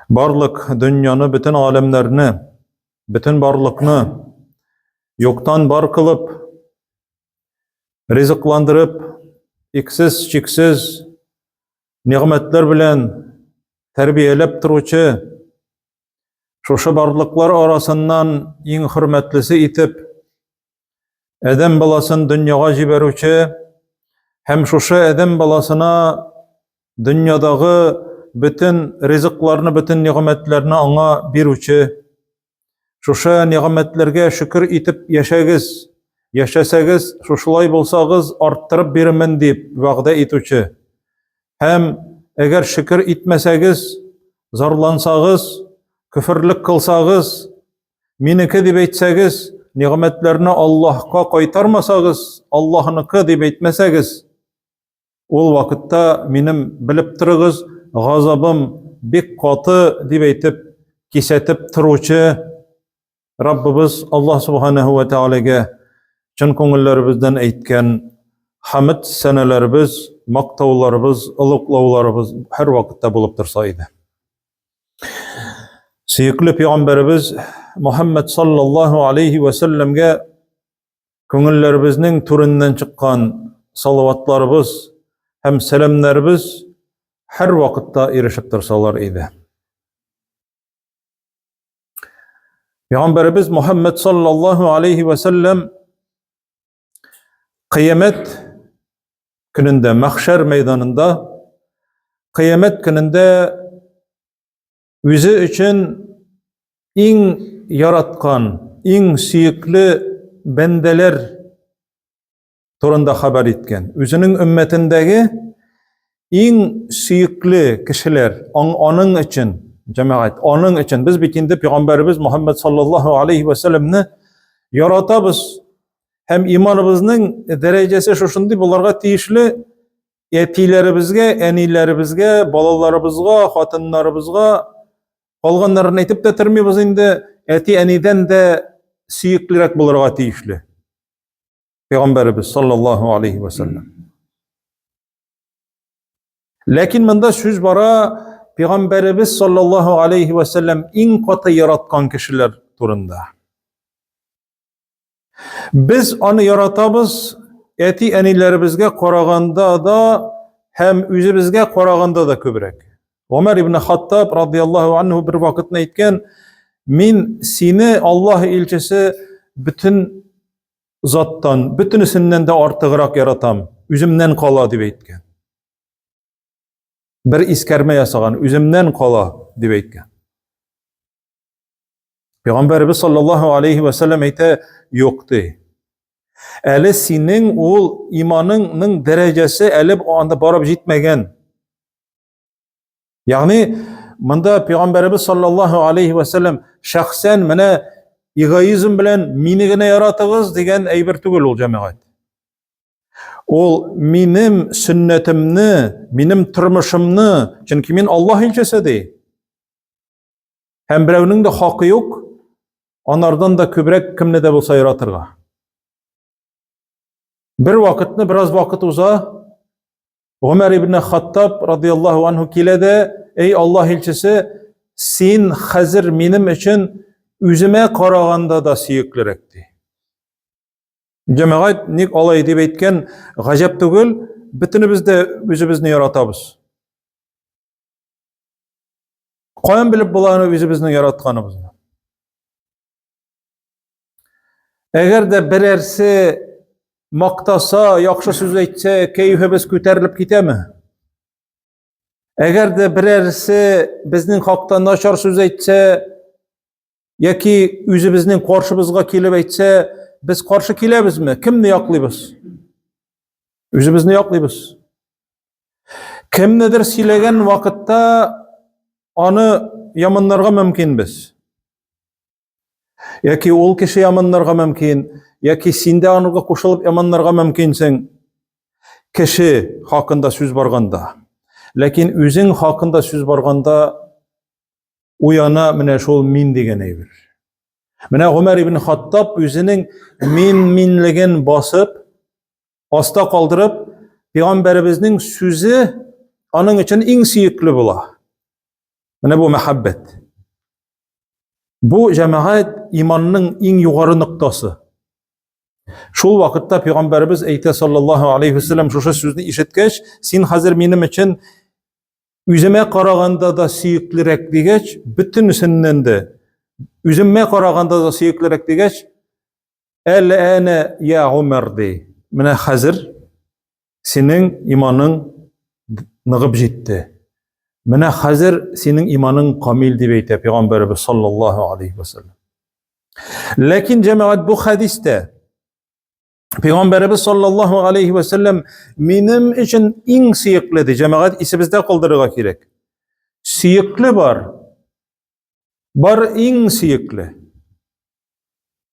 Барлык дөньяны, бөтен галәмнәрне, бөтен барлыкны юктан бар кылып, ризыкландырып, иксез, чиксез нигъмәтләр белән тәрбияләп торучы, шушы барлыклар арасыннан иң хөрмәтлесе итеп Адәм баласын дөньяга җибәрүче һәм шушы адәм баласына дөньядагы бөтен ризыкларны, бөтен нигъмәтләрне аңа бирүче, шушы нигъмәтләргә шөкер итеп яшәгез, яшәсәгез, шушылай булсагыз, арттырып бирмен дип вәгъдә итүче. Һәм әгәр шөкер итмәсәгез, зарлансагыз, күферлек кылсагыз, Минеке дип әйтсәгез, нигъмәтләрне Аллаһка кайтармасагыз, Аллаһныкы дип әйтмәсәгез, ул вакытта минем белеп торыгыз, газабым бик каты дип әйтеп, кисәтеп торучы Раббыбыз Аллаһ субханаһу ва таалагә чын күңелләребездән әйткән хамд сәнәләребез, мактауларыбыз, олуглауларыбыз һәр вакытта булып торса иде. Сөекле пәйгамбәребез Мөхәммәд саллаллаһу алейхи ва сәлләмгә күңелләребезнең түреннән чыккан салаватларыбыз һәм сәламнәребез һәр вакытта ирешеп торсалар иде. Пәйгамбәребез Мөхәммәд саллаллаһу алейхи ва сәлләм Кыямәт көнендә, мәхшәр мәйданында, кыямәт көнендә үзе өчен иң яраткан, иң сөекле бәндәләр турында хәбәр иткән. Үзенең өммәтендәге иң сөекле кешеләр аның өчен, җәмәгать, аның өчен без бит инде пәйгамбәребез Мөхәммәд саллаллаһу алейхи ва сәлламне яратабыз һәм иманыбызның дәрәҗәсе шушындый буларга тиешле әтиләребезгә, әниләребезгә, балаларыбызга, хатыннарыбызга калганнарын әйтеп тә тормыйбыз инде, әти-әнидән дә сөеклерәк булырга тиешле. Пәйгамбәребез саллаллаһу алейхи ва саллям. Ләкин монда сүз бара Пәйгамбәребез саллаллаһу алейхи ва саллям иң каты яраткан кешеләр турында. Без аны яратабыз, әти әниләребезгә караганда да һәм үзебезгә караганда да күбрәк. Умар ибн Хаттаб радияллаһу анһу бер вакытны әйткән, "Мин сине Аллаһ илчесе бөтен заттан, бөтенесеннән дә артыграк яратам, үземнән кала дип әйткән. Бер искәрмә ясаган, үземнән кала дип әйткән. Пәйгамбәрбез саллаллаһу алейхи ва саллям әйтә, юк ди. Әле синең ул иманыңның дәрәҗәсе әле анда барып җитмәгән. Ягъни монда пәйгамбәребез саллаллаһу алейхи ва саллям шәхсән менә эгоизм белән мине генә яратыгыз дигән әйбер түгел ул җәмәгать. Ул минем сөннәтемне, минем тормышымны, чөнки мин Аллаһ илчесе ди. Һәм берәүнең дә хакы юк анардан да күбрәк кемне дә булса яратырга. Бер вакытны бераз вакыт уза. Гомәр ибн Хаттаб радияллаһу анһу килә дә, "Эй Аллаһ илчесе, син хәзер минем өчен үземә караганда да сөеклерәк" ди. Җәмәгать ник алай дип әйткән, гаҗәп түгел, бөтенебез дә үзебезне яратабыз. Каян белеп була аны үзебезнең яратканыбызны? Әгәр дә берәрсе мактаса, яхшы сүз әйтсә, кәефебез күтәрелеп китәме? Әгәр дә берәрсе безнең хакта начар сүз әйтсә, яки үзебезнең каршыбызга килеп әйтсә, без каршы киләбезме? Кемне яклыйбыз? Үзебезне яклыйбыз. Кемнедер сөйләгән вакытта аны яманнарга мөмкинбез. Яки ул кеше яманнарга мөмкин, яки син дә анырга кушылып яманнарга мөмкинсең. Кеше хакында сүз барганда. Ләкин үзең хакында сүз барганда уяна менә шул мин дигән әйбер. Менә Гомәр ибн Хаттаб үзенең мин-минлеген басып, аста калдырып, пәйгамбәребезнең сүзе аның өчен иң сөекле була. Менә бу мәхәббәт. Бу җәмәгать иманның иң югары ноктасы. Шул вакытта пәйгамбәребез әйтә саллаллаһу алейхи вәсәлләм шушы сүзне ишеткәч, син хәзер минем өчен үземә караганда да сөеклерәк дигәч, бөтенесеннән дә үземә караганда да сөеклерәк дигәч, Әл-әнә я Умар ди. Менә хәзер синең иманың ныгып җитте. Менә хәзер синең иманың камил дип әйтә пәйгамбәрбез саллаллаһу алейхи ва саллям. Ләкин җәмәгать бу хәдистә Пәйгамбәрбез саллаллаһу алейхи ва саллям минем өчен иң сөекле ди. Җәмәгать исебездә калдырырга кирәк. Сөекле бар. Бар иң сөекле.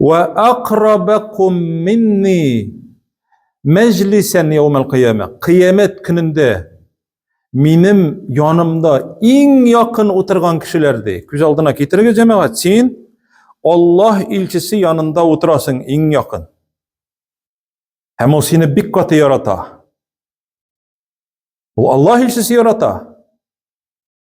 Ва акрабакум минни мәҗлисән яумал кыяма. Кыямәт көнендә минем янымда иң якын утырган кешеләр ди. Күз алдына китерегез, җәмәгать, син Аллаһ илчесе янында утырасың иң якын. Һәм ул сине бик каты ярата. Ул Аллаһ илчесе ярата.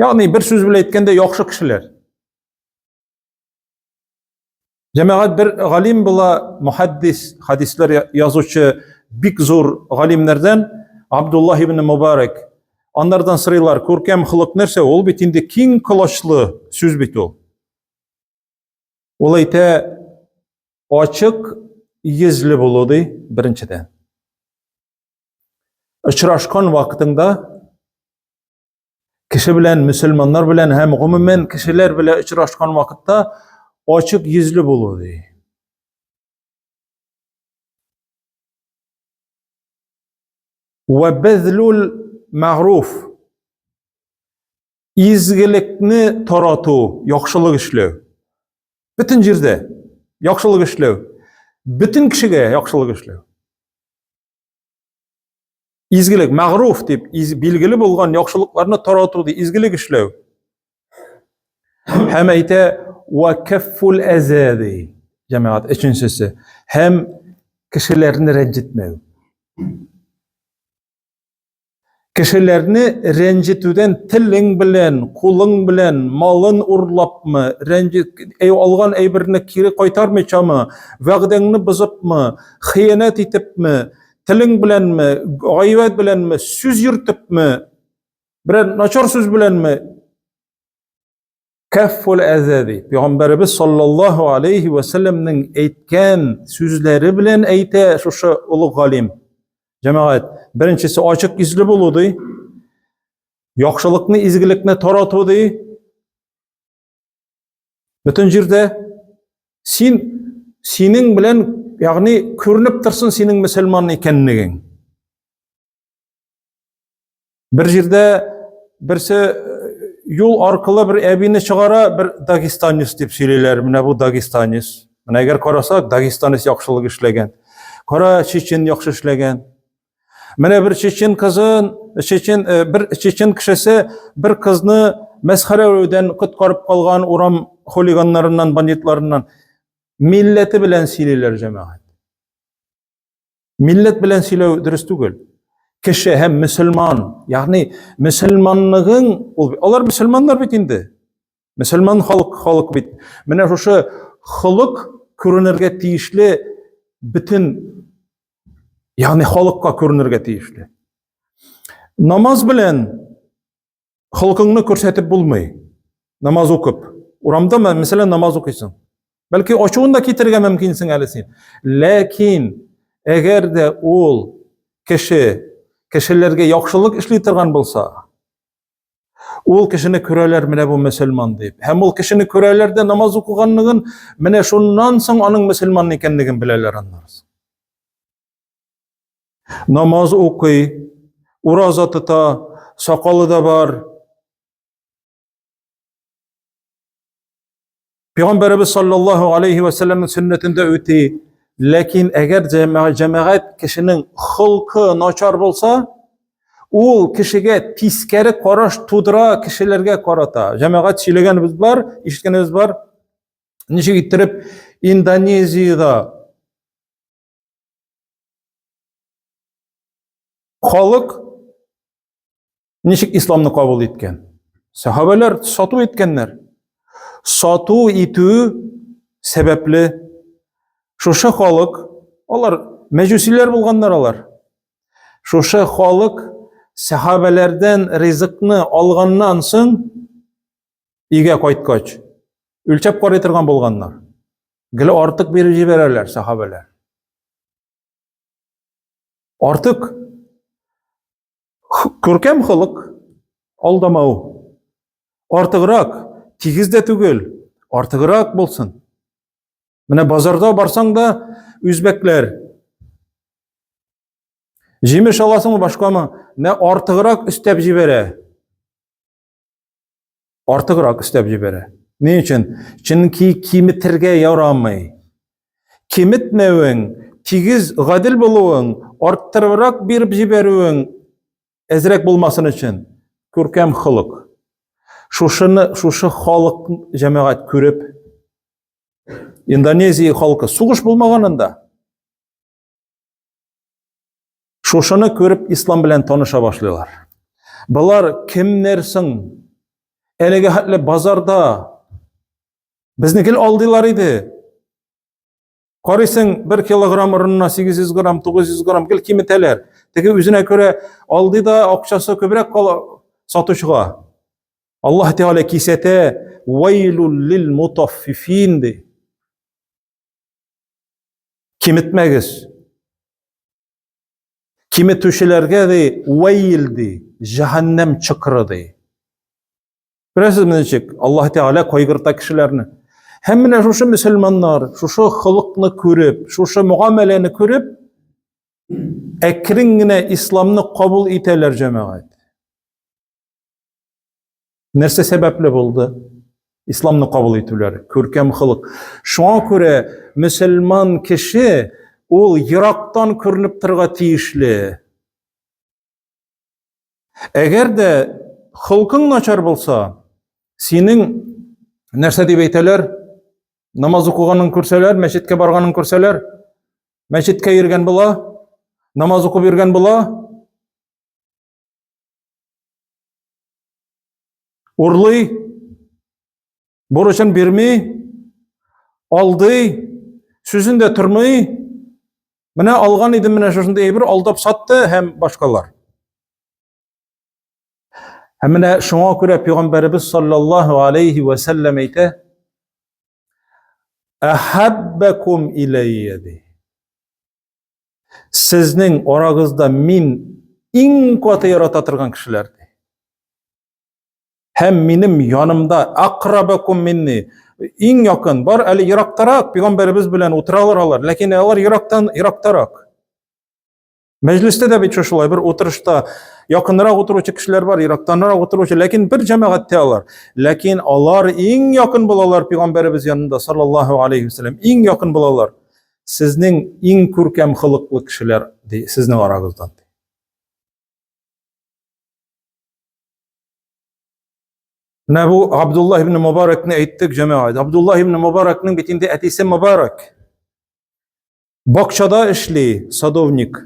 Ягъни бер сүз белән әйткәндә яхшы кешеләр. Җәмәгать бер галим була, мухаддис, хадислар язучы бик зур галимнәрдән Абдулла ибн Мубарак. Аннардан сырыйлар, күркәм холык нәрсә? Ул бит инде киң колачлы сүз бит ул. Ул әйтә, ачык йөзле булу ди, беренчедән. очрашкан вакытыңда кеше белән мөселманнар белән һәм гомумән кешеләр белән очрашкан вакытта ачык йөзле булу ди. Вә мәгруф изгелекне тарату, яхшылык эшләү. Бөтен җирдә яхшылык эшләү, бөтен кешегә яхшылык эшләү. Изгелек, мәгъруф дип билгеле булган яхшылыкларны тарату, ди, изгелек эшләү. Һәм әйтә, "Ва каффул азади" җәмәгать өченчесе. Һәм кешеләрне рәнҗетмәү. Кешеләрне рәнҗетүдән телең белән, кулың белән, малын урлапмы, рәнҗет, алган әйберне кире кайтармыйчамы, вәгъдәңне бозыпмы, хыянәт итепме, телең беләнме, гайбәт беләнме, сүз йөртепме, берәр начар сүз беләнме, Кәффул әзәби. Пәйгамбәрбез саллаллаһу алейхи ва сәлламнең әйткән сүзләре белән әйтә шушы олы галим. Җәмәгать, беренчесе ачык йөзле булу ди. Яхшылыкны, изгелекне тарату ди. Бөтен җирдә син синең белән, ягъни күренеп торсын синең мөселман икәнлегең. Бер җирдә берсе юл аркылы бер әбине чыгара, бер дагестанец дип сөйлиләр. Менә бу дагестанец. Менә әгәр карасак, дагестанец яхшылык эшләгән. Кара чечен яхшы эшләгән. Менә бер чечен кызын, чечен э, бер чечен кешесе бер кызны мәсхәрәләүдән коткарып калган урам хулиганнарыннан, бандитларыннан милләте белән сөйлиләр җәмәгать. Милләт белән сөйләү дөрес түгел. Кеше һәм мөселман, ягъни мөселманлыгың, ул алар мөселманнар бит инде. Мөселман халык халык бит. Менә шушы холык күренергә тиешле бөтен ягъни халыкка күренергә тиешле. Намаз белән Холкыңны күрсәтеп булмый. Намаз укып. Урамда, мәсәлән, намаз укыйсың. Бәлки ачуын да китерергә мөмкинсең әле син. Ләкин, әгәр дә ул кеше кешеләргә яхшылык эшли торган булса, ул кешене күрәләр менә бу мөселман дип. Һәм ул кешене күрәләр дә намаз укыганлыгын, менә шуннан соң аның мөселман икәнлеген беләләр аннары. Намаз укый, ураза тота, сакалы да бар. Пәйгамбәрбез саллаллаһу алейхи ва сәлламның сөннәтендә үти. Ләкин әгәр җәмәгать кешенең хылкы начар булса, ул кешегә тискәре караш тудыра кешеләргә карата. Җәмәгать сөйләгәнебез бар, ишеткәнебез бар. Ничек иттереп Индонезиядә Халык ничек исламны кабул иткән? Сәхабәләр сату иткәннәр. Сату итү сәбәпле шушы халык, алар мәҗүсиләр булганнар алар. Шушы халык сәхабәләрдән ризыкны алганнан соң өйгә кайткач, үлчәп карый торган булганнар. Гел артык биреп җибәрәләр сахабәләр. Артык күркәм холык алдамау. Артыграк, тигез дә түгел, артыграк булсын. Менә базарда барсаң да үзбәкләр җимеш аласыңмы башкамы, менә артыграк өстәп җибәрә. Артыграк өстәп җибәрә. Ни өчен? Чөнки киметергә ярамый. Киметмәвең, тигез, гадел булуың, арттырыбрак биреп җибәрүең әзрәк булмасын өчен күркәм холык. Шушыны, шушы халык җәмәгать күреп, Индонезия халкы сугыш булмаганында Шушыны күреп ислам белән таныша башлыйлар. Болар кемнәр соң? Әлеге хәтле базарда безне гел алдылар иде. Карыйсың, 1 килограмм урынына 800 грамм, 900 грамм гел киметәләр. Теге үзенә күрә алды да акчасы күбрәк кала сатучыга. Аллаһ Тәгалә кисәтә, "Вайлул лил мутаффифин" ди. Киметмәгез. Киметүчеләргә ди, вәйл ди, җәһәннәм чокыры ди. Беләсезме ничек? Аллаһ Тәгалә кайгырта кешеләрне. Һәм менә шушы мөселманнар, шушы холыкны күреп, шушы мөгамәләне күреп, әкрен генә исламны кабул итәләр җәмәгать. Нәрсә сәбәпле булды? Исламны кабул итүләр, күркәм холык. Шуңа күрә мөселман кеше ул ерактан күренеп торырга тиешле. Әгәр дә холкың начар булса, синең нәрсә дип әйтәләр? Намаз укыганын күрсәләр, мәчеткә барганын күрсәләр, мәчеткә йөргән була, намаз укып йөргән була, Урлый, бурычын бирми, алдый, сүзен дә тормый. Менә алган идем менә шушындый әйбер, алдап сатты һәм башкалар. Һәм менә шуңа күрә пәйгамбәребез саллаллаһу алейхи ва сәлләм әйтә: "Ахаббакум иләйя" ди. Сезнең арагызда мин иң каты ярата торган кешеләр ди. Һәм минем янымда акрабакум минни иң якын бар әле ерактарак пәйгамбәребез белән утыралар алар, ләкин алар ерактан ерактарак. Мәҗлестә дә бит шулай бер утырышта якынрак утыручы кешеләр бар, ерактанрак утыручы, ләкин бер җәмәгатьтә алар. Ләкин алар иң якын булалар пәйгамбәребез янында саллаллаһу алейхи ва иң якын булалар. сезнең иң күркәм холыклы кешеләр ди, сезнең арагыздан. Менә бу Абдулла ибн Мубаракны әйттек, җәмәгать. Абдулла ибн Мубаракның бит инде әтисе Мубарак. Бакчада эшли, садовник.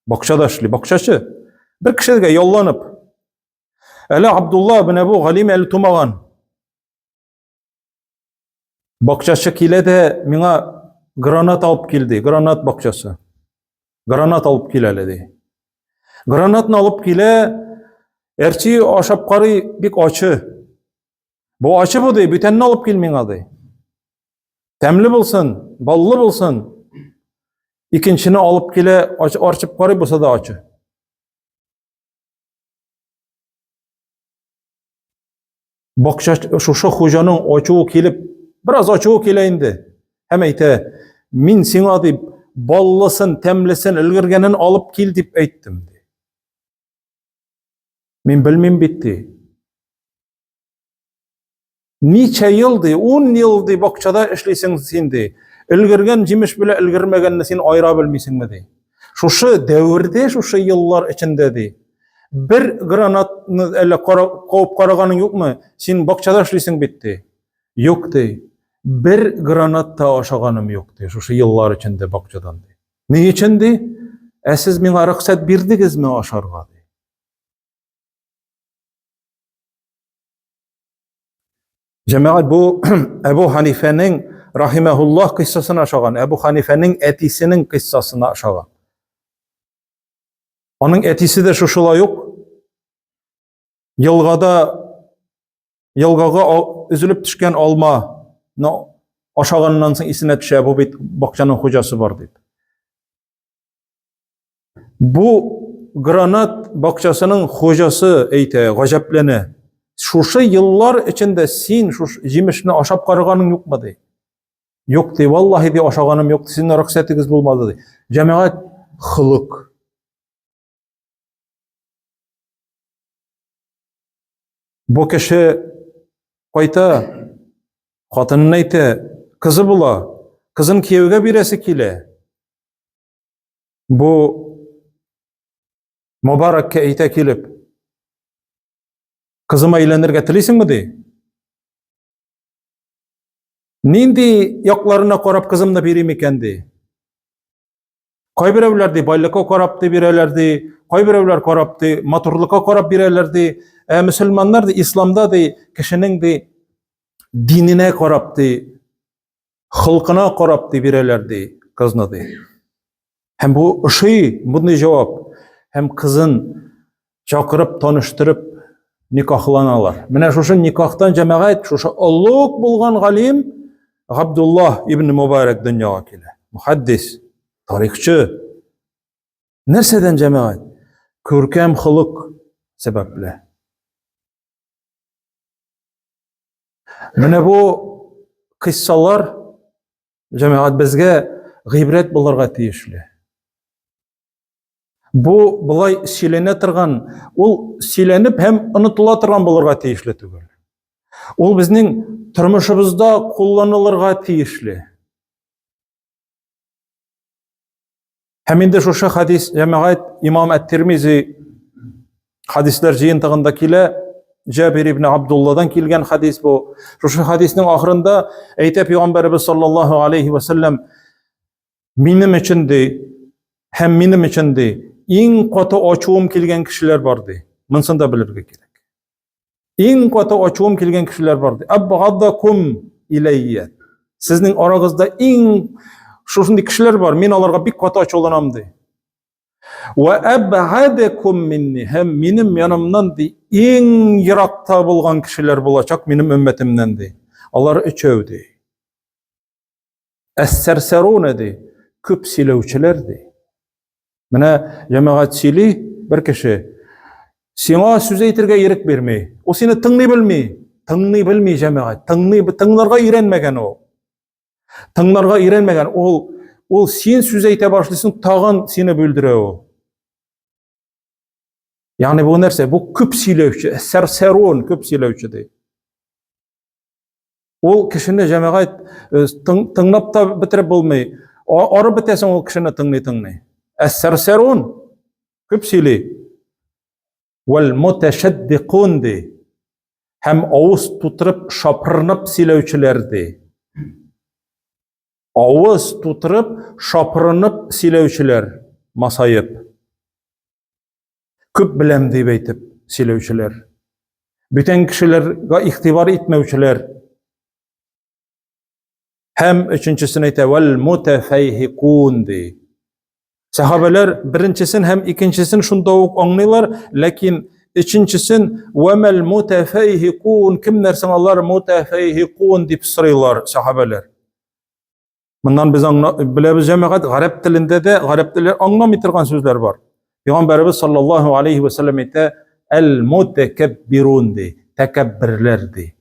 Бакчада эшли, бакчачы. Бер кешегә ялланып. Әле Абдулла менә бу галим әле тумаган. Бакчачы килә дә миңа гранат алып кил ди, гранат бакчасы. Гранат алып кил әле ди. Гранатны алып килә, әрчи ашап карый, бик ачы. Бу ачы бу ди, бүтәнне алып кил миңа ди. Тәмле булсын, баллы булсын. Икенчене алып килә, арчып карый, булса да ачы. Бакча шушы хуҗаның ачуы килеп, бераз ачуы килә инде. Һәм әйтә, мин сиңа дип баллысын, тәмлесен, өлгергәнен алып кил дип әйттем. Мин белмим бит, ди. Ничә ел ди, ун ел ди, бакчада эшлисең син ди. Өлгергән җимеш белә өлгермәгәнне син айыра белмисеңме ди. Шушы дәвердә, шушы еллар эчендә ди. Бер гранатны әллә куып караганың юкмы? Син бакчада эшлисең бит ди. Юк ди. Бер гранат та ашаганым юк ди, шушы еллар эчендә бакчадан ди. Ни өчен ди? Ә сез миңа рөхсәт бирдегезме ашарга ди? Җәмәгать бу Әбу Ханифәнең рахимәһуллаһ кыйссасына ошаган, Әбу Ханифәнең әтисенең кыйссасына ошаган. Аның әтисе дә шушылай ук елгада елгага өзелеп төшкән алма ашаганнан соң исенә төшә, бу бит бакчаның хуҗасы бар дип. Бу гранат бакчасының хуҗасы әйтә, гаҗәпләнә. Шушы еллар эчендә син шуш җимешне ашап караганың юкмы ди. Юк ди, валлаһи ди ашаганым юк, синең рөхсәтегез булмады ди. Җәмәгать хылык. Бу кеше кайта, хатынын әйтә, кызы була, кызын кияүгә бирәсе килә. Бу Мубаракка әйтә килеп, кызыма әйләнергә телисеңме ди? Нинди якларына карап кызымны бирим икән ди? Кайберәүләр ди, байлыкка карап ди бирәләр ди, кайберәүләр карап ди, матурлыкка карап бирәләр ди. Ә мөселманнар ди, исламда ди, кешенең ди диненә карап ди, холкына карап ди бирәләр ди кызны ди. Һәм бу ошый, мондый җавап. Һәм кызын чакырып, таныштырып никахланалар. Менә шушы никахтан җәмәгать, шушы олуг булган галим Габдулла ибн Мубарак дөньяга килә. Мухаддис, тарихчы. Нәрсәдән җәмәгать? Күркәм холык сәбәпле. Менә бу кыссалар җәмәгать безгә гыйбрәт булырга тиешле. Бу болай сөйләнә торган, ул сөйләнеп һәм онытыла торган булырга тиешле түгел. Ул безнең тормышыбызда кулланылырга тиешле. Һәм инде шушы хадис җәмәгать имам әт-Тирмизи хадисләр җыентыгында килә, Җабир ибн Абдулладан килгән хадис бу. Шушы хадиснең ахырында әйтә пәйгамбәрбез саллаллаһу алейхи ва саллям Минем өчен ди, һәм минем өчен ди, иң каты ачуым килгән кешеләр бар ди. Монысын да белергә кирәк. Иң каты ачуым килгән кешеләр бар ди. Абгадакум иләйя. Сезнең арагызда иң шушындый кешеләр бар, мин аларга бик каты ачуланам ди. Ва абгадакум минни. Һәм минем янымнан ди, иң еракта булган кешеләр булачак минем өммәтемнән ди. Алар өчәү ди. Әссәрсәруне ди, күп сөйләүчеләр ди. Менә җәмәгать сөйли, бер кеше сиңа сүз әйтергә ирек бирми. Ул сине тыңлый белми. Тыңлый белми җәмәгать. Тыңлый тыңларга өйрәнмәгән ул. Тыңларга өйрәнмәгән ул ул син сүз әйтә башлыйсың, тагын сине бүлдерә ул. Ягъни бу нәрсә? Бу күп сөйләүче, сәрсәрун, күп сөйләүче ди. Ул кешене җәмәгать э, тыңлап та бетереп булмый. Арып бетәсең ул кешене тыңлый тыңлый. Әссәрсәрун күп сөйли. Вәл мутәшәддикун ди. Һәм авыз тутырып шапырынып сөйләүчеләр ди. Авыз тутырып шапырынып сөйләүчеләр масаеп. Күп беләм дип әйтеп сөйләүчеләр. Бүтән кешеләргә игътибар итмәүчеләр. Һәм өченчесен әйтә, вәл мутафайхикун ди. Сахабалар беренчесен һәм икенчесен шунда ук аңлыйлар, ләкин өченчесен вәмәл мутафайхикун кемнәр соң алар мутафайхикун дип сорыйлар сахабалар. Моннан без аңна, беләбез җәмәгать, гарәп телендә дә гарәп теле аңламый торган сүзләр бар. Пәйгамбәрбез саллаллаһу алейхи ва саллям әйтә, "Әл-мутакаббирун" ди, тәкәбберләр ди.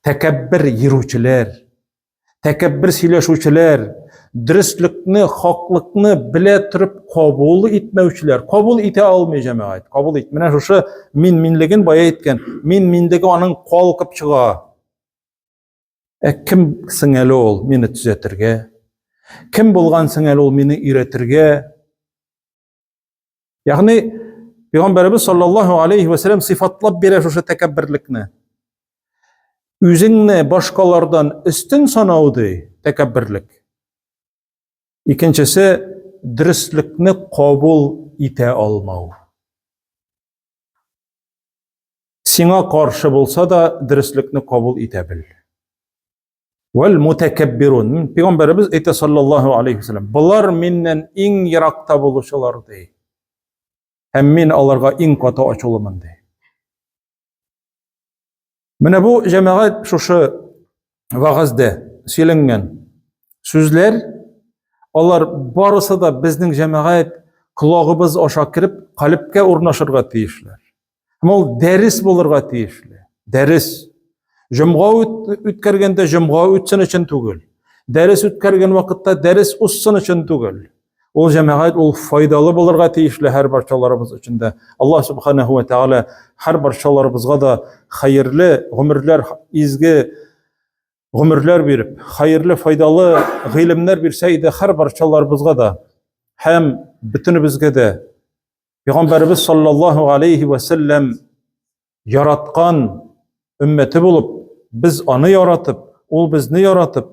Тәкәббер йөрүчеләр, тәкәббер сөйләшүчеләр, дөреслекне, хаклыкны белә торып кабул итмәүчеләр, кабул итә алмый җәмәгать. Кабул ит. Менә шушы мин-минлеген бая әйткән, мин-минлеге аның калкып чыга. Ә кем соң әле ул мине төзәтергә? Кем булган соң әле ул мине өйрәтергә? Ягъни Пәйгамбәрбез саллаллаһу алейхи ва саллям сыйфатлап бирә шушы тәкәбберлекне. Үзеңне башкалардан өстен санау ди тәкәбберлек. Икенчесе дөреслекне кабул итә алмау. Сиңа каршы булса да дөреслекне кабул итә бел. Вәл мутакаббирун. Пәйгамбәрбез әйтә саллаллаһу алейхи вәсәлләм, булар миннән иң еракта булучылар ди. Һәм мин аларга иң каты ачулымын ди. Менә бу җәмәгать шушы вагазда сөйләнгән сүзләр, алар барысы да безнең җәмәгать колагыбыз аша кереп, калепкә урнашырга тиешләр. Һәм ул дәрес булырга тиешле. Дәрес. Җомга үткәргәндә җомга үтсен өчен түгел. Дәрес үткәргән вакытта дәрес узсын өчен түгел. Ул җәмәгать ул файдалы булырга тиешле һәр барчаларыбыз өчен дә. Аллаһ субханаһу ва тәгалә һәр барчаларыбызга да хәерле гомерләр, изге гомерләр биреп, хәерле, файдалы гыйлемнәр бирсә иде һәр барчаларыбызга да һәм бөтенебезгә дә. Пәйгамбәрбез саллаллаһу алейхи ва саллям яраткан өммәте булып, без аны яратып, ул безне яратып,